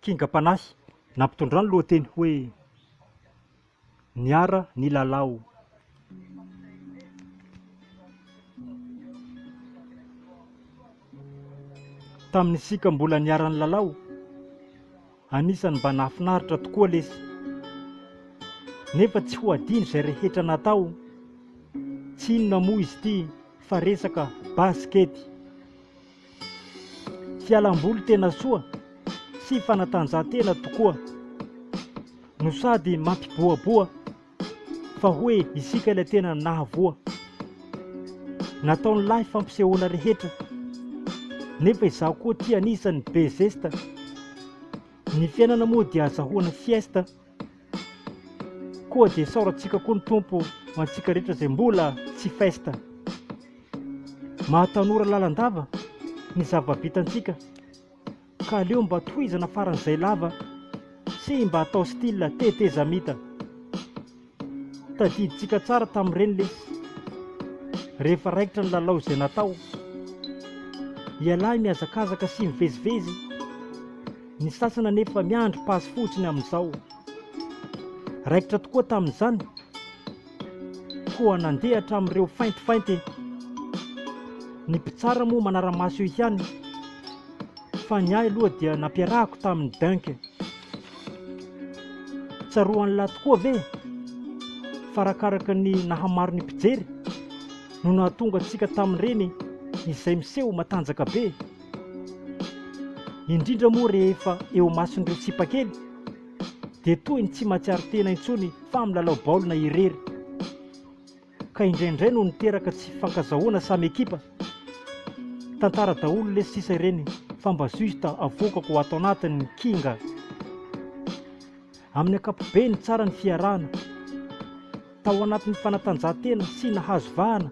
Kingam-panahy nampitondra ny lohateny hoe Niara nilalao. Tamin'isika mbola niara-nilalao, anisan'ny mba nahafinaritra tokoa lesy. Nefa tsy ho adino izay rehetra natao. Tsy inona moa izy ity fa resaka basikety. Fialam-boly tena soa sy fanatanjahantena tokoa no sady mampibohaboha fa hoe isika ilay tena nahavoa. Nataon'ny lahy fampisehoana rehetra nefa izaho koa tia anisan'ny be zesta. Ny fiainana moa dia azahoana fiesta. Koa dia saorantsika koa ny Tompo ho antsika rehetra izay mbola tsy festa. Mahatanora lalandava ny zava-bitantsika ka aleo mba tohizana faran'izay lava sy mba atao style tetezamita. Tadidintsika tsara tamin'ireny lesy rehefa raikitra ny lalao izay natao. Ialahy mihazakazaka sy mivezivezy. Ny sasany anefa miandry passe fotsiny amin'izao. Raikitra tokoa tamin'izany, koa nandeha hatramin'ireo faintifainty. Ny mpitsara moa manara-maso eo ihany, fa ny ahy aloha dia nampiarahako tamin'ny dunk. Tsaroan'lah tokoa ve fa arakaraka ny nahamaro ny mpijery no nahatonga antsika tamin'ireny izay miseho matanjaka be? indrindra moa rehefa eo imason'ireo tsipakely dia toy ny tsy mahatsiaro tena intsony fa milalao baolina irery ka indraindray no niteraka tsy fankazahoana samy ekipa tantara daholo lesy sisa ireny fa mba juste avokako ho ato anatiny ny kinga amin'ny akapobe ny tsara ny fiarahana tao anatin'ny fanatanjahantena sy nahazo vahana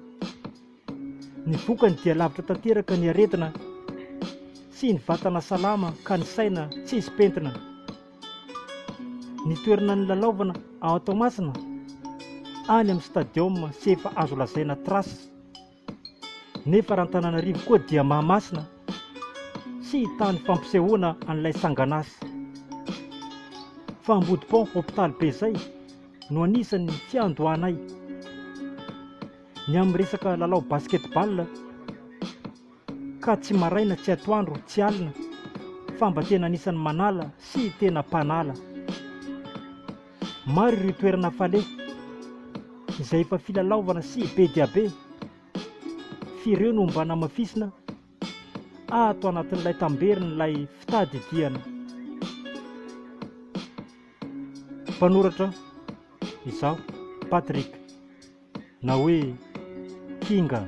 Ny vokany dia lavitra tanteraka ny aretina sy ny vatana salama ka ny saina tsisy pentina. Ny toerana nilalaovana ao Toamasina any amin'ny stadium sy efa azo lazaina trace. Nefa raha Antananarivo koa dia Mahamasina sy tany fampisehoana an'ilay sangan'asa. Fa Ambodipont hopitaly be izay no anisan'ny fiandohanay. Ny amin'ny resaka lalao basketball ka tsy maraina tsy atoandro tsy alina fa mba tena anisan'ny manala sy tena mpanala. Maro ireo toerana fale izay efa filalaovana sy be dia be f'ireo no mba namafisina ato anatin'ilay tamberin'ilay fitadidiana. Mpanoratra izaho, Patrick. na hoe kinga.